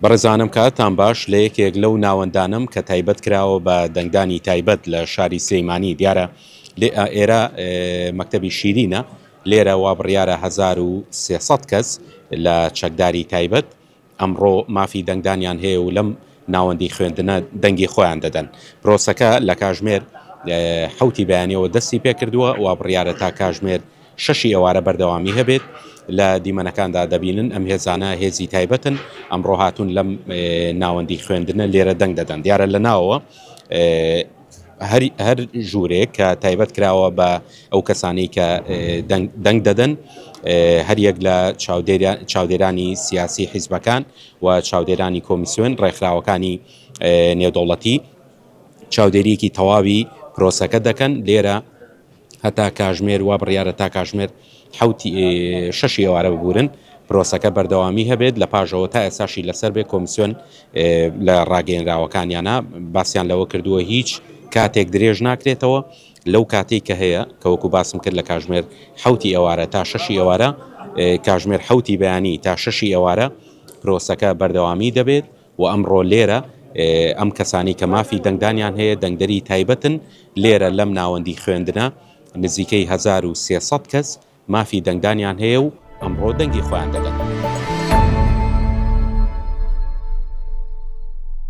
بەڕێزانم کاتتان باش، لە یەکێک لەو ناوەندانەم کە تایبەت کراوە بە دەنگدانی تایبەت لە شاری سلێیمانی دیارە ئێرە مەکتەبی شیرینە، لێرە وا بڕیارە هەزار و سێ سەد کەس لە چەکداری تایبەت ئەمڕۆ مافی دەنگدانیان هەیە و لەم ناوەندی خوێندنە دەنگی خۆیان دەدەن. پرۆسەکە لە کاژمێر حەوتی بەیانیەوە دەستی پێکردووە، وا بڕیارە تا کاژمێر شەشی ئێوارە بەردەوامی هەبێت لە دیمەنەکاندا دەبینن ئەم هێزانە هێزی تایبەتن ئەمڕۆ هاتوون لەم ناوەندی خوێندنە لێرە دەنگ دەدەن دیارە لە ناوەوە هەر ژوورێک کە تایبەت کراوە بە ئەو کەسانی کە دەنگ دەدەن هەریەک لە چاودێرانی سیاسی حیزبەکان و چاودێرانی کۆمیسیۆن ڕێکخراوەکانی نێودەوڵەتی چاودێریەکی تەواوی پرۆسەکە دەکەن لێرە هەتا کاژمێر وا بڕیارە تا کاژمێر شەش ئێوارە ببورن پرۆسەکە بەردەوامی هەبێت لە پاژەوە تا ئێساشی لەسەر بێ کۆمسیۆن لە ڕاگەیەنراوەکانیانە باسییان لەوە کردووە هیچ کاتێک درێژ ناکرێتەوە لەو کاتێک کە هەیە کەوەکو باسم کرد لە کاژمێر حوتی ئێوارە تا شەشی ئێوارە کاژمێر حوتی بەیانی تا شەشی ئێوارە پرۆسەکە بەردەوامی دەبێت و ئەمڕۆ لێرە ئەم کەسانەی کە مافی دەنگدانیان هەیە دەنگدەری تایبەتن، لێرە لەم ناوەندی خوێندنە نزیکەی هەزار و سێ سەد کەس مافی دەنگدانیان هەیە و ئەمڕۆ دەنگی خۆیان دەدەن.